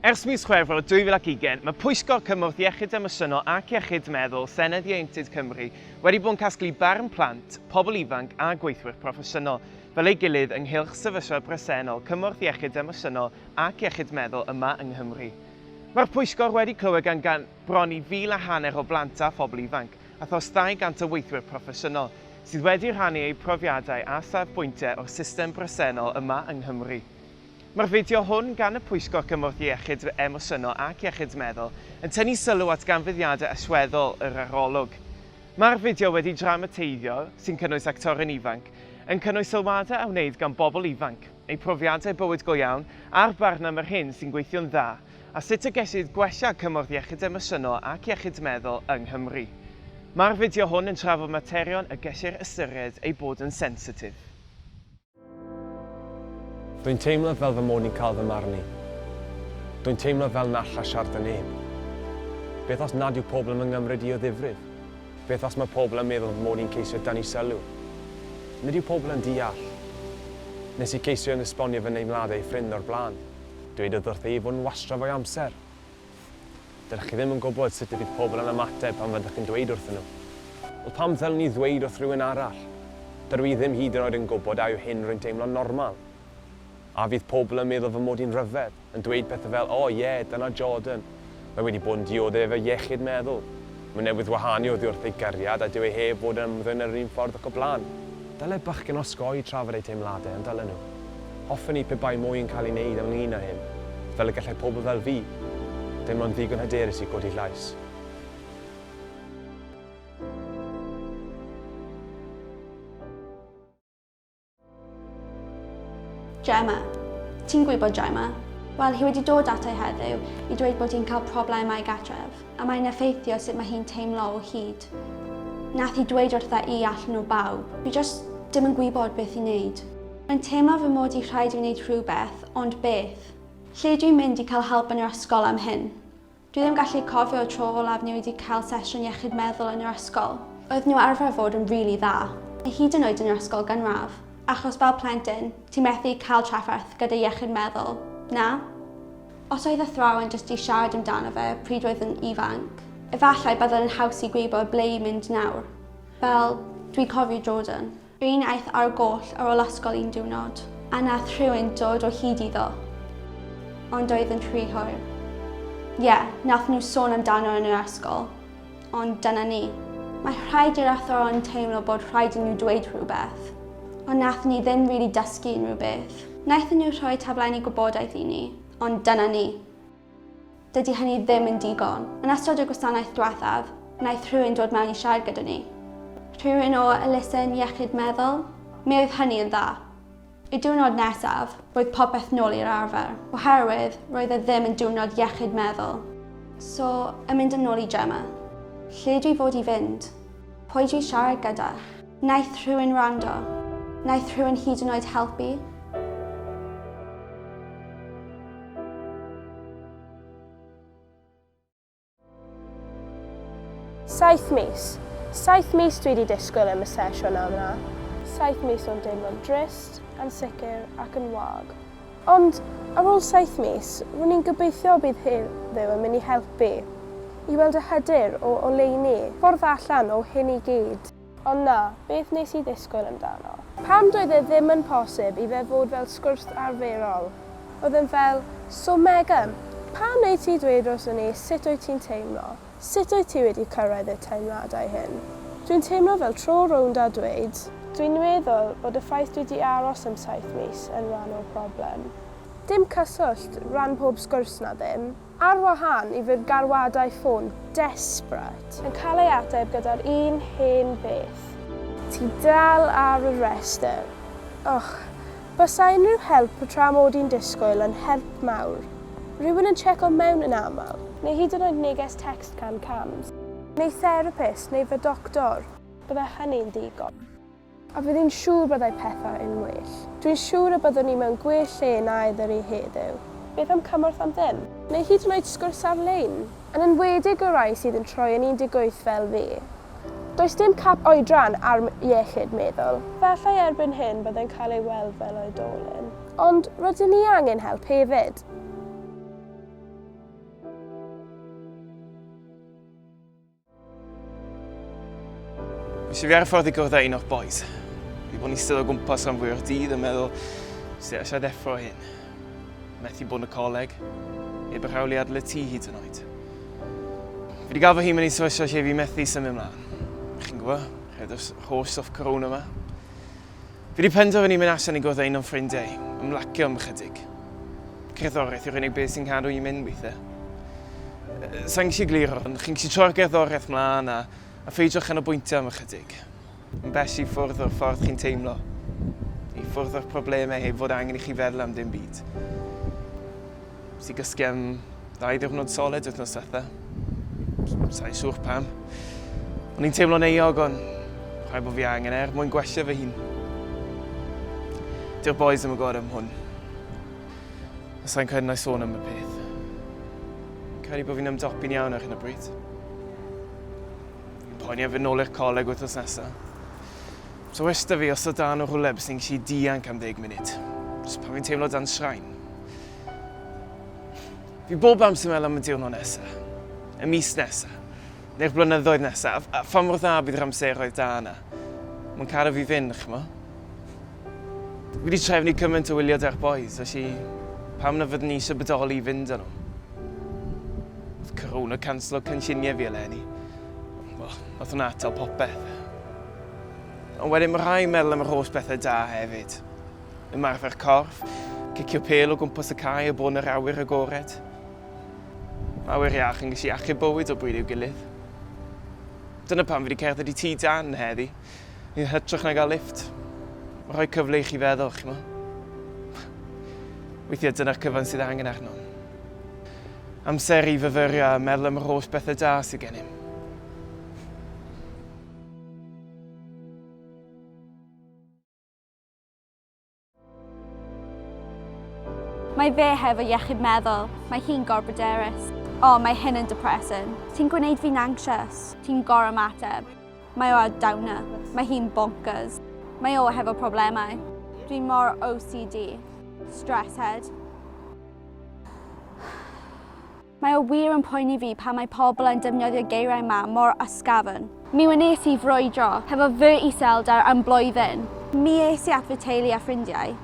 Ers mis Chwefror 2020, mae Pwyllgor Cymorth Iechyd Emosiynol ac Iechyd Meddwl Senedd Ieuenctid Cymru wedi bod yn casglu barn plant, pobl ifanc a gweithwyr proffesiynol fel ei gilydd ynghylch sefyllfa bresennol cymorth iechyd emosiynol ac iechyd meddwl yma yng Nghymru. Mae'r pwyllgor wedi clywed gan gan bron i fil a hanner o blant a phobl ifanc. a thros 200 o weithwyr proffesiynol sydd wedi rhannu eu profiadau a safbwyntiau o'r system bresennol yma yng Nghymru. Mae'r fideo hwn gan y Pwyllgor Cymorth Iechyd Emosiynol ac Iechyd Meddwl yn tynnu sylw at ganfyddiadau allweddol yr arolwg. Mae'r fideo wedi dramateiddio, sy'n cynnwys actorion ifanc, yn cynnwys sylwadau a wneud gan bobl ifanc, eu profiadau bywyd go iawn a'r barn am yr hyn sy'n gweithio'n dda, a sut y gellid gwella cymorth iechyd emosiynol ac iechyd meddwl yng Nghymru. Mae'r fideo hwn yn trafod materion y gellir ystyried eu bod yn sensitif. Dwi'n teimlo fel fy mod i'n cael fy marnu. Dwi'n teimlo fel na alla siarad â neb. Beth os nad yw pobl yn fy nghymryd i o ddifrif? Beth os mae pobl yn meddwl fy mod i'n ceisio dynnu sylw? Nid yw pobl yn deall. Nes i ceisio yn esbonio fy nheimladau i ffrind o'r blaen. Dwedodd wrtha i fod yn wastraff o'i amser. Dydych chi ddim yn gwybod sut y bydd pobl yn ymateb pan fyddwch chi'n dweud wrthyn nhw. Wel, pam ddylwn i ddweud wrth rywun arall? Dydw i ddim hyd yn oed yn gwybod a yw hyn rwy'n teimlo'n normal. A fydd pobl yn meddwl fy mod i'n rhyfedd, yn dweud pethau fel, 'O, ie, dyna Jordan, Mae wedi bod yn dioddef efo'i iechyd meddwl. Mae newydd wahanu oddi wrth ei gariad a dyw e heb fod yn ymddwyn ar yr un ffordd ac o blaen. Dyle bachgen osgoi trafod ei teimladau, ond dylen nhw. Hoffen i pe bai mwy yn cael ei wneud ynglŷn â hyn, fel y gallai pobl fel fi, ddim ond ddigon hyderus i godi llais. Gemma. Ti'n gwybod, Gemma? Wel, hi wedi dod ato i heddiw i dweud bod hi'n cael problemau gatref, a mae'n effeithio sut mae hi'n teimlo o hyd. Nath hi dweud wrtha i allan nhw bawb. Fi just dim yn gwybod beth i wneud. Mae'n teimlo fy mod i rhaid i fi wneud rhywbeth, ond beth? Lle dw i'n mynd i cael help yn yr ysgol am hyn? Dwi ddim gallu cofio y tro olaf ni wedi cael sesiwn iechyd meddwl yn yr ysgol. Oedden nhw arfer fod yn rili dda, a hyd yn oed yn yr ysgol gynradd, achos fel plentyn, ti'n methu cael trafferth gyda iechyd meddwl, na? Os oedd athrawon jyst di siarad amdano fe pryd oedd yn ifanc, efallai byddwn yn haws i gwybod ble i mynd nawr. Fel, dwi'n cofio Jordan. Bu'n aeth ar goll ar ol ysgol un diwrnod, a nath rhywun dod o hyd iddo. Ond oedd yn rhy hwyr. Ie, nath nhw sôn amdano yn yr ysgol. Ond dyna ni. Mae rhaid i'r athrawon teimlo bod rhaid i nhw dweud rhywbeth. Ond nath ni ddim rili dysgu unrhyw beth. Naethon nhw rhoi taflenni gwybodaeth i ni. Ond dyna ni. Dydy hynny ddim yn digon. Yn ystod y gwasanaeth diwethaf, wnaeth rhywun dod mewn i siarad gyda ni. Rhywun o elusen iechyd meddwl. Mi oedd hynny yn dda. Y diwrnod nesaf, roedd popeth nôl i'r arfer, oherwydd roedd e ddim yn diwrnod iechyd meddwl. So, yn mynd yn ôl i Gemma. Lle dwi fod i fynd? Pwy dwi siarad gyda? Wnaeth rhywun wrando? Wnaeth rhywun hyd yn oed helpu? Saith mis. Saith mis dwi wedi disgwyl am y sesiwn yma. Saith mis o'n deimlo'n drist, ansicr ac yn wag. Ond ar ôl saith mis, ro'n i'n gobeithio bydd heddiw yn mynd i helpu i weld y hyder o oleuni ffordd allan o hyn i gyd. Ond na, beth wnes i ddisgwyl amdano? Pam doedd e ddim yn posib i fe fod fel sgwrs arferol? Oedd e'n fel, So Megan, pam wnei ti dweud wrthon ni sut wyt ti'n teimlo? Sut wyt ti wedi cyrraedd y teimladau hyn? Dwi'n teimlo fel tro rownd a dweud, Dwi'n meddwl bod y ffaith dwi 'di aros am saith mis yn rhan o'r problem. Dim cyswllt, ran pob sgwrs na ddim. Ar wahân i fy galwadau ffôn desperate. Yn cael ei ateb gyda'r un hen beth. Ti dal ar y rhestr. Och, bysa unrhyw help y tra mod i'n disgwyl yn help mawr. Rhywun yn tseco mewn yn aml. Neu hyd yn oed neges tecst can cams. Neu therapist neu fy doctor. Bydde hynny'n ddigon. A fydd hi'n siŵr byddai pethau yn well. Dwi'n siŵr y byddwn ni mewn gwell lle na ydw i heddiw. Beth am cymorth am ddim? Neu hyd yn oed sgwrs ar-lein? Yn enwedig y rhai sydd yn troi yn 18 fel fi. Does dim cap oedran ar iechyd meddwl. Efallai erbyn hyn byddai'n cael ei weld fel oedolyn. Ond rydyn ni angen help hefyd. Nes i fi ar y ffordd i gwrdd â un o'r boys. Fi bod yn eistedd o gwmpas rhan fwy o'r dydd yn meddwl, sut eisiau ddeffro hyn? Methu bod yn y coleg, heb yr hawliau adle ti hyd yn oed. Fi wedi gael fy hun yn ei sefyllfa lle fi methu symud ymlaen. Chi'n gwybod, rhaid o'r holl soft corona yma. Fi wedi penderfynu mynd allan i gwrdd â un o'n ffrindiau i ymlacio am ychydig. Cerddoriaeth yw'r unig beth sy'n cadw i'n mynd weithiau. Sa i'n gallu egluro, ond chi'n gallu troi'r gerddoriaeth mlaen a, a pheidio chanolbwyntio am ychydig. Yn bell i ffwrdd o'r ffordd chi'n teimlo, i ffwrdd o'r problemau heb fod angen i chi feddwl am dim byd. Nes i gysgu am ddau ddiwrnod solid wythnos diwetha. Sa'n siŵr pam. O'n i'n teimlo'n euog ond rhaid bod fi angen er mwyn gwella fy hun. Dyw'r boys ddim yn gwybod am hwn. A sa'n credu na i sôn am y peth. Credu bod fi'n ymdopi'n iawn ar hyn o bryd. Poeni am fynd nôl i'r coleg wythnos nesaf. So westa fi os o dan o rhywle bys ni'n gallu dianc am ddeg munud. Jyst pan fi'n teimlo dan sraen. Fi bob amser meddwl am y diwrnod nesa, y mis nesa, neu'r blynyddoedd nesa, a pha mor dda bydd yr amseroedd da yna. Mae'n caru fi fynd, chmo. Fi wedi trefnu cymaint o wylio da'r boys, felly pam na fyddwn ni eisiau bodoli i fynd â nhw? Oedd y canslo cynlluniau fi eleni. Wel, oedd hwnna atal popeth. Ond wedyn mae rhai meddwl am yr holl bethau da hefyd. Ymarfer corff, cicio pêl o gwmpas y cae o bron yr awyr agored. Mae awyr iach yn gallu achub bywyd o bryd i'w gilydd. Dyna pam fi wedi cerdded i tŷ Dan heddi, yn hytrach na gael lifft. Mae'n rhoi cyfle i chi feddwl, chi'mo. Weithiau dyna'r cyfan sydd angen arnom. Amser i fyfyrio a meddwl am yr holl bethau da sydd gennym. Mae fe hefo iechyd meddwl, mae hi'n gorbyderus. O, mae hyn yn depressing. Ti'n gwneud fi'n anxious. Ti'n gorau mateb. Mae o a downer. Mae hi'n bonkers. Mae o hefo problemau. Dwi'n mor OCD. Stress head. Mae o wir yn poeni fi pan mae pobl yn defnyddio geiriau ma mor ysgafn. Mi wnes i frwydro hefo fy iselder am blwyddyn. Mi es i at fy teulu a ffrindiau.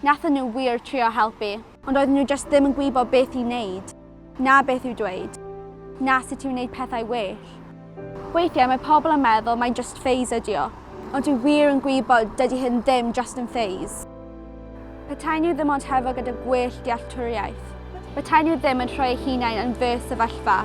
Nathon nhw wir trio helpu. Ond oedden nhw jyst ddim yn gwybod beth i wneud, na beth i'w dweud, na sut i wneud pethau well. Weithiau mae pobl yn meddwl mai jyst phase ydi o, ond dwi wir yn gwybod dydi hyn ddim jyst yn phase. Petai nhw ddim ond hefo gyda gwell dealltwriaeth, petai nhw ddim yn rhoi eu hunain yn fy sefyllfa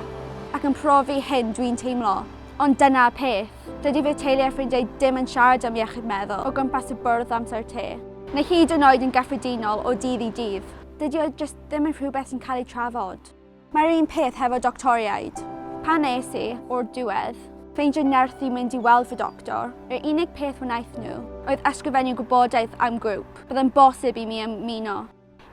ac yn profi hyn dwi'n teimlo. Ond dyna'r peth, dydi fy teulu a ffrindiau dim yn siarad am iechyd meddwl o gwmpas y bwrdd amser te, neu hyd yn oed yn gyffredinol o ddydd i dydd. Dydi o jyst ddim yn rhywbeth sy'n cael ei trafod. Mae'r un peth hefo doctoriaid. Pan es i, o'r diwedd, ffeindio nerth i mynd i weld fy doctor, yr unig peth wnaeth nhw oedd ysgrifennu gwybodaeth am grŵp byddai'n bosib i mi ymuno.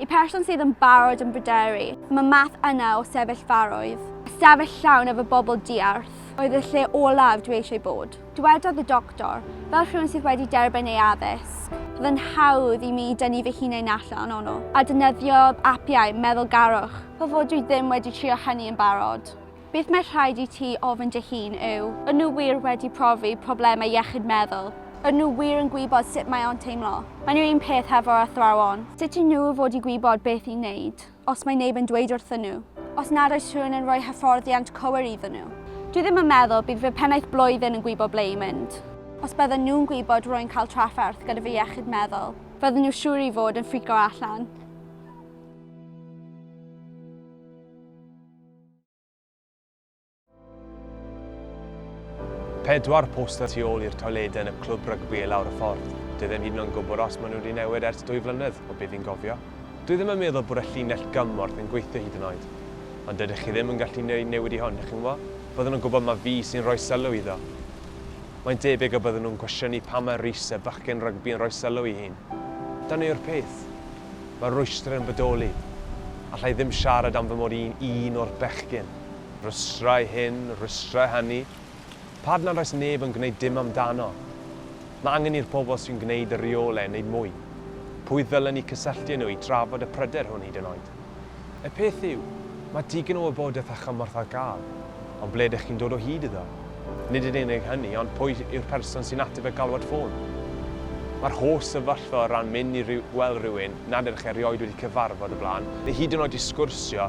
I person sydd yn barod yn bryderu am y math yna o sefyllfaroedd, ystafell llawn efo bobl diarth oedd y lle olaf dwi eisiau bod. Dywedodd y doctor, Fel rhywun sydd wedi derbyn ei addysg, roedd yn hawdd i mi dynnu fy hunain allan ono, a defnyddiodd apiau meddylgarwch fel fod dwi ddim wedi trio hynny yn barod. Beth mae rhaid i ti ofyn dy hun yw, Y'n nhw wir wedi profi problemau iechyd meddwl? Y'n nhw wir yn gwybod sut mae o'n teimlo? Mae'n yr un peth hefo'r athrawon. Sut i nhw fod i gwybod beth i wneud? Os mae neb yn dweud wrthyn nhw. Os nad oes rhywun yn rhoi hyfforddiant cywir iddyn nhw. Dwi ddim yn meddwl bydd fy mhennaeth blwyddyn yn gwybod ble i mynd. Os bydden nhw'n gwybod rwy'n cael trafferth gyda fy iechyd meddwl. Fydden nhw siŵr i fod yn ffrico allan. Pedwar poster tu ôl i'r toiledau yn y clwb rygbi i lawr y ffordd. Dwi ddim hyd yn oed yn gwybod os maen nhw wedi newid ers dwy flynedd, o be fi'n gofio. Dwi ddim yn meddwl bod y llinell gymorth yn gweithio hyd yn oed. Ond dydych chi ddim yn gallu gwneud newid i hwn, chi'n gwybod? Bydden nhw'n gwybod mai fi sy'n rhoi sylw iddo. Mae'n debyg y bydden nhw'n cwestiynu pam mae Rhys, y bachgen rygbi yn rhoi sylw i hyn. Dyna yw'r peth. Mae'r rwystr yn bodoli. Alla i ddim siarad am fy mod i'n un o'r bechgyn. Rhwystrau hyn, rhwystrau hynny. Pad nad oes neb yn gwneud dim amdano. Mae angen i'r pobl sy'n gwneud y rheolau wneud mwy. Pwy ddylen ni cysylltu â nhw i drafod y pryder hwn hyd yn oed? Y peth yw, mae digon o wybodaeth a chymorth ar gael, ond ble ydych chi'n dod o hyd iddo? Nid yn unig hynny, ond pwy yw'r person sy'n ateb y galwad ffôn? Mae'r holl sefyllfa o ran mynd i weld rhywun nad ydych erioed wedi cyfarfod o blaen, neu hyd yn oed i sgwrsio,